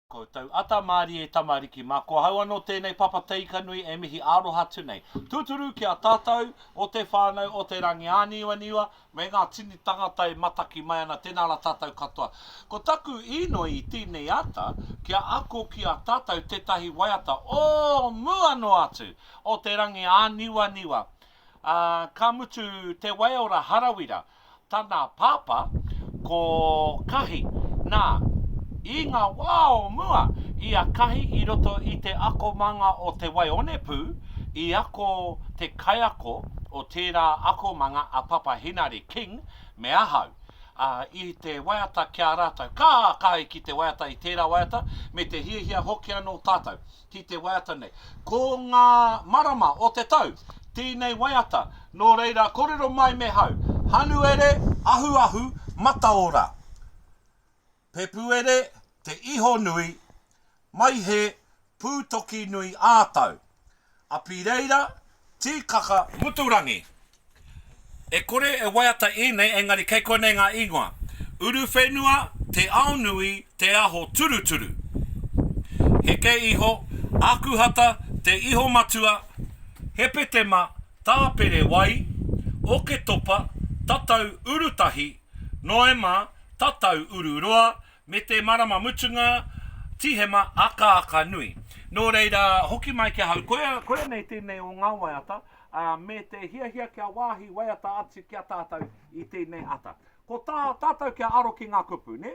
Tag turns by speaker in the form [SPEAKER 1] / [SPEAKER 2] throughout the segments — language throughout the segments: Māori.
[SPEAKER 1] Koutou ata marie tamariki ma ko hau ano tenei papa teikanui e mihi aroha atu nei. Tuturu ki a tatou o te whanau o te rangi aniwaniwa me nga tini tangata e mataki mai ana tena ra tatou katoa. Ko taku inoi i tenei ata kia ako ki a tatou tetahi waiata o mua no atu o te rangi aniwaniwa a ka mutu te waiora harawira Tana pāpā, ko Kahi. Nā, i ngā wā o mua, i a Kahi i roto i te akomanga o Te Waionepū, i ako te kaiako o tērā akomanga a Papa Hinari King me ahau, ā, i te waiata ki a rātou. Ka kaha ki te waiata i tērā waiata, me te hiahia hoki anō tātou. ki te waiata nei. Ko ngā marama o te tau tēnei waiata, nō reira kōrero mai me hau, Hanuere, Ahuahu, Mataora, Pepuere, Te Iho Nui, Maihe, Pūtokinui ā-Tau, Apireira, Tīkaka Muturangi. E kore e waiata ēnei engari kei konei ngā ingoa, Uruwhenua, Te Aonui, Te Aho Turuturu. Heke iho, Akuhata, Te Ihomatua, Hepetema, Tāperewai, Oketopa, Tatau Urutahi, Noema, Tatau Ururoa, Me te marama mutunga, Tīhema akaaka nui. Nō reira, hoki mai ki ahau, koia, koia nei tēnei o ngā waiata, ā, me te hiahia kia wāhi waiata atu ki a tātou i tēnei ata. Ko tā tātou kia aro ki ngā kupu, nē?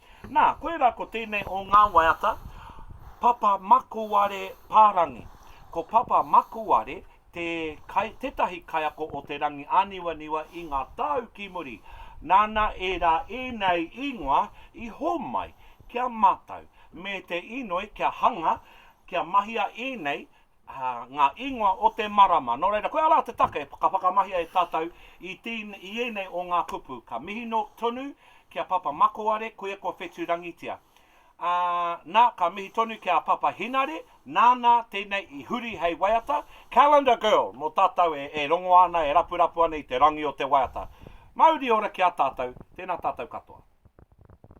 [SPEAKER 1] Nā, koirā ko tēnei o ngā waiata, Papa Makuare Pārangi. Ko Papa Makuare te kai, tētahi kaiako o Te Rangi Āniwaniwa i ngā tau ki muri. Nāna ērā ēnei īngoa i hōmai ki a mātou, me te inoi kia hanga, kia mahia ēnei ngā ingoa o te marama. Nō reira, koia rā te take ka whakamahia e tātou i i ēnei o ngā kupu. Ka mihi no tonu ki a Papa Makoare, koia kua whetu rangitia. Ā, nā, ka mihi tonu ki a Papa Hinare, nānā tēnei i huri hei waiata, Calendar Girl, mō tātou e, e rongo ana, e rapurapu ana i te rangi o te waiata. Mauri ora ki a tātou, tēnā tātou katoa.